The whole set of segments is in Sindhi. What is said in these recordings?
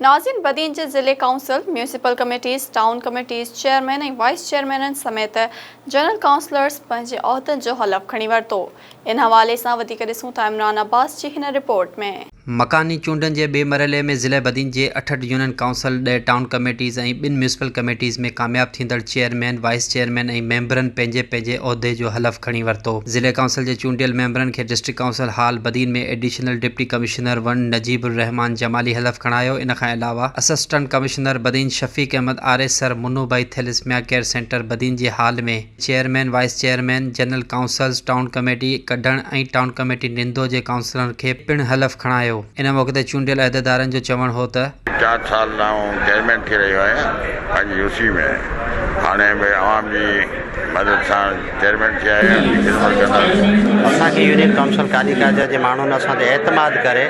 نازين بدين جي ضلعي council, municipal committees, town committees, chairman ۽ vice چيئرمينن سميت جنرل ڪائونسلرز پنهنجي عهدن جو حلف کڻي ورتو. ان حوالي سان وڌيڪ ڏسون ٿا عمران عباس جي هن رپورٽ ۾. مڪاني چونڊن جي ٻئي مرحلي ۾ ضلعي بدين جي اٺهٺ يونين ڪائونسل، ڏهه ٽائون ڪميٽيز ۽ ٻن ميونسپل ڪميٽيز ۾ ڪامياب ٿيندڙ چيئرمين، وائيس چيئرمين ۽ ميمبرن پنهنجي پنهنجي عهدي جو حلف کڻي ورتو. ضلعي ڪائونسل جي چونڊيل ميمبرن کي district council hall Badin ۾ additional deputy commissioner, commissioner one Najib ul-Rahman Jamali حلف کڻايو، ان کان علاوه assistant commissioner Badin Shafiq Ahmed Arisar Manu Bhai thalassemia care centre Badin جي hall ۾ chairman, vice chairman, general councils, town committee Kadhan ۽ town committee Nindo جي ڪائونسلرن کي پڻ حلف کڻايو، ان موقعي تي چونڊيل عهديدارن جو چوڻ هو ته. چار سال لاء آئون چيئرمين ٿي رهيو آهيان پنهنجي يو سي ۾ هاڻي به عوام جي مدد سان. چيئرمين ٿيا آهيان جي خدمت ڪنداسين. اسان کي يونين ڪائونسل ڪالي ڪاجه جي ماڻهن اسان تي اعتماد ڪري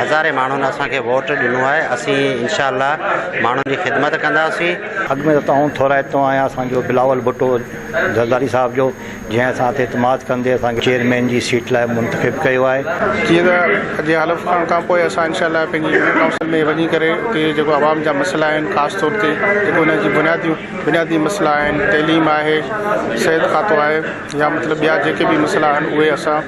هزارين ماڻهن اسان کي ووٽ ڏنو آهي اسين انشاء الله ماڻهن جي خدمت ڪنداسين. اڳ ۾ ته توهان ٿورائتو آهيان اسان جو بلاول ڀٽو زرداري صاحب جو جنهن اسان تي اعتماد ڪندي اسان کي چيئرمين جي سيٽ لاء منتخب ڪيو آهي. جيئن ته اڄ جي حلف کڻڻ کان پوء اسان انشاء الله پنهنجي يونين ڪائونسل ۾ وڃي ڪري اتي جيڪو عوام جا مسئلا آهن خاص طور تي جيڪو ان جي بنياديون بنيادي مسئلا آهن تعليم آهي صحت کاتو آهي يا مطلب ٻيا جيڪي به مسئلا آهن اهي اسان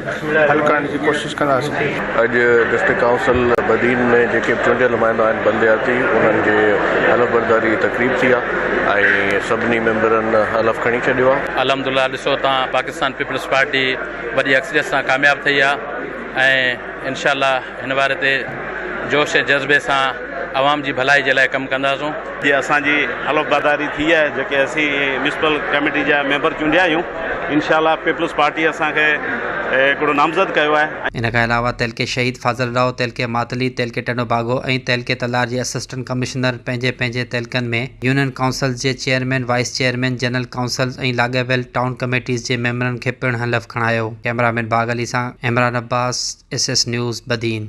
حل ڪرڻ جي ڪوشش ڪنداسين. اڄ ڊسٽرڪٽ ڪائونسل بدين ۾ جيڪي به چونڊيل نمائندا آهن بلدياتي انهن جي حلف برداري جي تقريب ٿي آهي ۽ سڀني ميمبرن حلف کڻي ڇڏيو آهي. الحمدالله ڏسو تان پاڪستان پيپلز پارٽي وڏي اڪثريت سان ڪامياب ٿئي آهي ۽ انشاء الله هن واري تي جوش ۽ جذبي سان عوام جي ڀلائي جي لاء ڪم ڪنداسون. جي اسان جي حلفبرداري ٿي آهي جيڪي اسين ميونسپل ڪميٽي جا ميمبر چونڊيا آهيون انشاء الله پيپلز پارٽي اسان کي هڪڙو نامزد ڪيو آهي ۽. ان کان علاوه تعلقي شهيد فاضل راء، تعلقي ماتلي، تعلقي ٽنڊو باگو ۽ تعلقي تلار جي اسسٽنٽ ڪمشنر پنهنجي پنهنجي تعلقن ۾ يونين ڪائونسلز جي chairman, vice chairman, general councils ۽ لاڳاپيل ٽائون ڪميٽيز جي ميمبرن کي پڻ حلف کڻايو. ڪئميرا مين باغ علي سان Imran Abbas S S news Badin